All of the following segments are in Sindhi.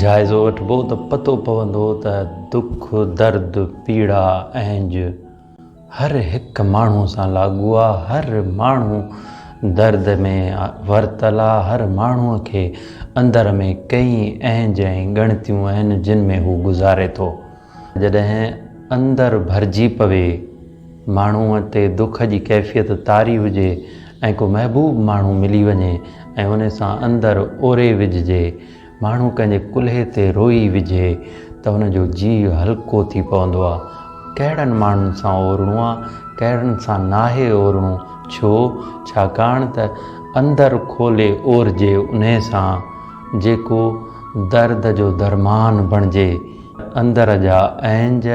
جائزو وٺبو ته پتو پوندو ته دک، درد، پيڙا، اهنج هر هڪ ماڻهو سان لاڳو آ، هر ماڻهو درد ۾ ورتل آ، هر ماڻهو کي اندر ۾ ڪئين اهنج ۽ ڳڻتيون آهن جن ۾ هو گذاري ٿو. جڏهن اندر ڀرجي پوي، ماڻهوء تي دک جي ڪيفيت طاري هجي ۽ ڪو محبوب ماڻهو ملي وڃي ۽ ان سان اندر اوري وجهجي، ماڻهو ڪنهنجي ڪلهي تي روئي وجهي ته ان جو جيء هلڪو ٿي پوندو آ. ڪهڙن ماڻهن سان اورڻو آ، ڪهڙن سان ناهي اورڻو، ڇو؟ ڇاڪاڻ ته اندر کولي اورجي انهي سان، جيڪو درد جو درمان بڻجي. اندر جا اهنج،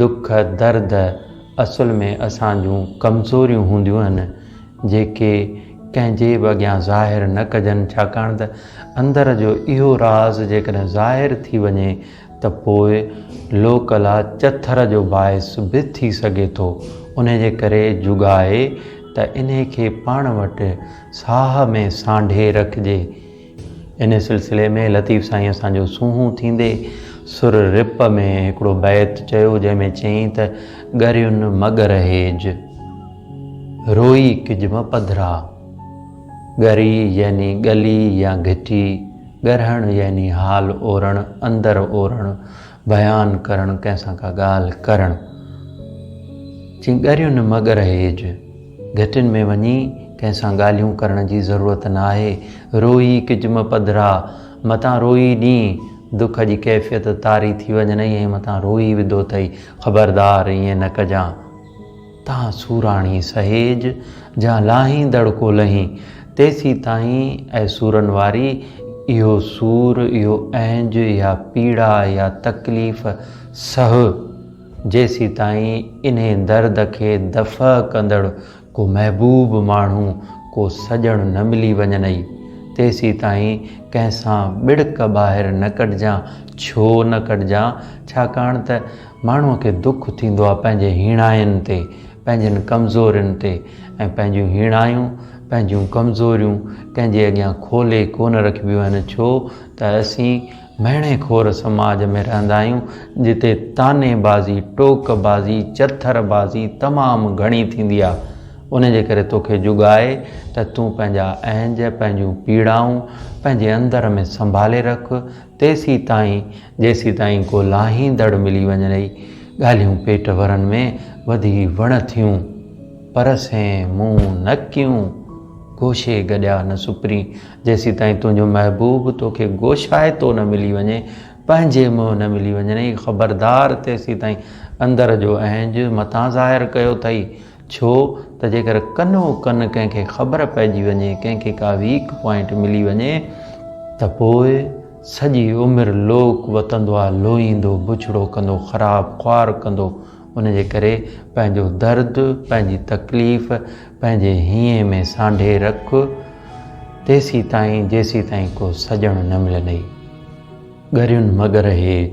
دک، درد اصل ۾ اسان جون ڪمزوريون هونديون آهن، جيڪي ڪنهن جي به اڳيان ظاهر نه ڪجن، ڇاڪاڻ ته اندر جو اهو راز جيڪڏهن ظاهر ٿي وڃي ته پوء لوڪلا چٿر جو باعث به ٿي سگهي ٿو، انهي جي ڪري جوڳائي ته انهي کي پاڻ وٽ ساهه ۾ سانڍي رکجي. انهيء سلسلي ۾ لطيف سائين اسان جو سونهون ٿيندي سر رپ ۾ هڪڙو بيت چيو، جنهن ۾ چيائين ته، ڳرين مڳ رهيج، روئي ڪجم پڌرا. ڳري يعني ڳلي يا گهٽي، ڳرهڻ يعني حال اورڻ، اندر اورڻ. بيان ڪرڻ ڪنهن سان ڪا ڳالهه ڪرڻ چين ڳريون مگر هيج گهٽين ۾ وڃي ڪنهن سان ڳالهيون ڪرڻ جي ضرورت نه آهي روئي ڪجم پڌرا متان روئي ڏين دک جي ڪيفيت طاري ٿي وڃنئي ۽ متان روئي وڌو ٿئي خبردار ائين نه ڪجان. تان سوراڻي سهيج، جا لاهيندڙ ڪو لهين. تيسين تائين، اي سورن واري، اهو سور، اهو اهنج يا پيڙا يا تڪليف سهه، جيسين تائين انهي درد کي دفع ڪندڙ ڪو محبوب ماڻهو، ڪو سڄڻ نه ملي وڃنئي. تيسين تائين ڪنهن سان ٻڙڪ ٻاهر نه ڪڍجان. ڇو نه ڪڍجان؟ ڇاڪاڻ ته ماڻهوء کي دک ٿيندو آهي پنهنجي هيڻاين تي، پنهنجين ڪمزورين تي ۽ پنهنجيون هيڻايون، پنهنجيون ڪمزوريون ڪنهن جي اڳيان کولي ڪونه رکبيون آهن ڇو ته اسين مهڻي خور سماج ۾ رهندا آهيون جتي طعني بازي، ٽوڪ بازي، چٿر بازي تمام گهڻي ٿيندي آهي ان جي ڪري توکي جڳ آهي ته تون پنهنجا اهنج، پنهنجون پيڙائون پنهنجي اندر ۾ سنڀالي رک تيسيتائين جيسيتائين ڪو لاهيندڙ ملي وڃي رهي. ڳالهيون پيٽ ورن ۾ وڌي وڻ ٿيون. پر سين مون نه ڪيون. گوشي گڏيا نه سپرين. جيسيتائين تنهنجو محبوب توکي گوشائتو نه ملي وڃي، پنهنجي منهن نه ملي وڃي رهي. خبردار تيسيتائين اندر جو اهنج متان ظاهر ڪيو اٿئي. ڇو ته جيڪر ڪنو ڪن ڪنهن کي خبر پئجي وڃي، ڪنهن کي ڪا ويڪ پوائنٽ ملي وڃي ته پوء سڄي عمر لوڪ وتندو آ، لوئيندو، بڇڙو ڪندو، خراب خوار ڪندو، ان جي ڪري پنهنجو درد، پنهنجي تڪليف پنهنجي هينئين ۾ سانڍي رک، تيسيتائين جيسيتائين ڪو سڄڻ نه ملندئي. ڳريون مگر هيج.